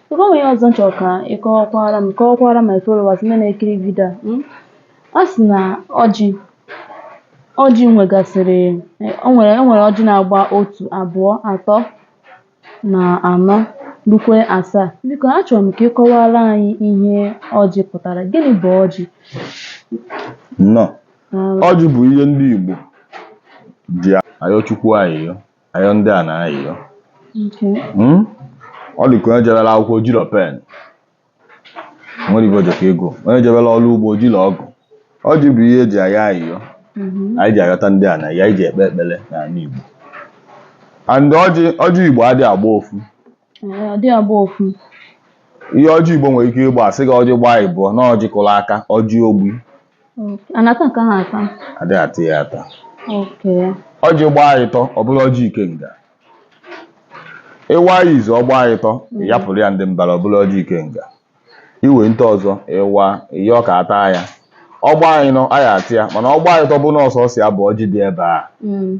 Biko o nwere ihe ọzọ m chọrọ ka ị kọwakwara m kọwakwara my followers ndị na-ekiri vidio a mm? a sị na ọjị ọjị nwegasịrị eh, o nwere o nwere ọjị na-agba otu abụọ atọ na anọ rukwe asaa biko achọrọ m ka ị kọwara anyị ihe ọjị pụtara gịnị bụ ọjị nnọọ Daalụ. ọjị bụ ihe ndị Igbo ji ayọ Chukwu ayịyọ ayọ ndị ana ayịyọ Okay. Hmm? ọ dị ka onye jebere akwụkwọ o jiro pen nwere ibe ojeka ego onye jebere ọrụ ugbo o jiro ọgụ ọjị bụ ihe eji ayọ ayịyọ Mhm. anyị ji ayọta ndị ana ya anyị ji ekpe ekpere n'ala Igbo and ọjị ọjị Igbo adịghị agba ofu Ee, ọ dị agba ofu ihe ọjị igbo nwere ike ịgba a sị gị ọjị gbaa ịbụọ na ọjị kụrụ aka ọjị ogbi Okay. a na-ata nke ahụ ata adịghị ata ya ata Okay. ọjị gbaa ịtọ ọ bụrụ ọjị ikenga ị waa ya izu ọ gbaa ịtọ ị yapụrụ ya ndị mbara ọ bụrụ ọjị ikenga i wente ọzọ ịwa ihe ọ ka ata ya ọ gbaa ịnọ a ya-ata ya mana ọ gbaa ịtọ bụ na ọ sọsọ ya bụ ọjị dị ebe a Mm.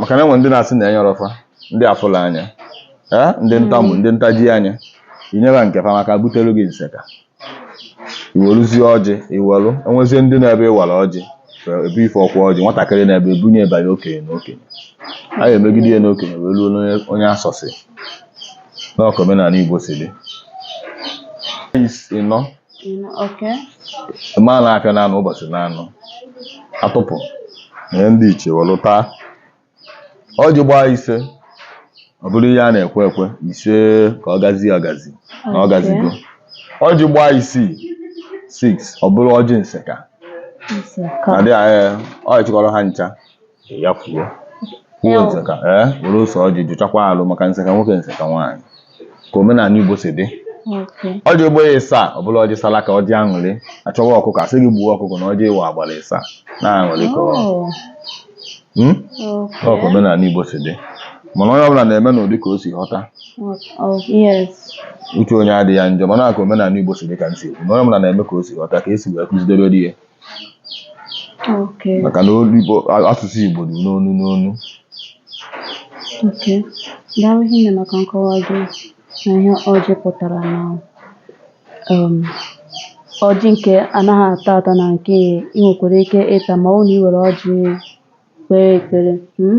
maka na e nwere ndị na-asị na enyerọ fa ndị afụlọ anya ndị ntamu ndị ntaji anya i nyere nke fa maka butelu gị nseka i weluzie ọjị i welu nyezie ndị nọ ebe ị wara ọjị ebe ife ọkwa ọjị nwatakịrị na-ebe ebunye ịbanye okenye na okenye a ga-emegide ya n'okenye wee ruo onye asọsị na ọ ka omenala Igbo si dị ịnọ mana afịa n'anọ ụbọchị n'anọ a tụpụ nye ndị ichie were taa ọjị gbaa ise ọ bụrụ ihe a na-ekwe ekwe ise ka ọ gazie agazi na ọ gazigo ọjị gbaa isii 6 ọ bụrụ ọjị nseka na dị anyị ọ chịkọrọ ha ncha yafuo kwuo nseka ee eh, were ose ọjị jụchakwa alụ maka nseka nwoke nseka nwaanyị ka omenala Igbo si dị ọjị gbaa ịsaa ọ bụrụ ọjị sala aka ọjị aṅụrị a chọwa ọkụkọ a sị gị gbuo ọkụkọ na ọjị ị wara gbara ịsaa na aṅụrị ka oh. hmm? ọ ka omenala Igbo si dị mana onye ọbụla na-eme n'ụdị ka o si ghọta oh, uche onye adịghị ya njọ mana ka omenala Igbo si dị ka m sị na onye ọbụla na-eme ka o si ghọta ka esi wee kuzidebere ya Okay. maka na olu Igbo a- asụsụ Igbo dị n'onu n'onu Okay. Daalụ hinne maka nkọwa gị na ihe ọjị pụtara na um, ọjị nke anaghị ata ata na nke ị nwekwara ike ịta ma ọ bụ na ị were ọjị kpee ekpere. Mm?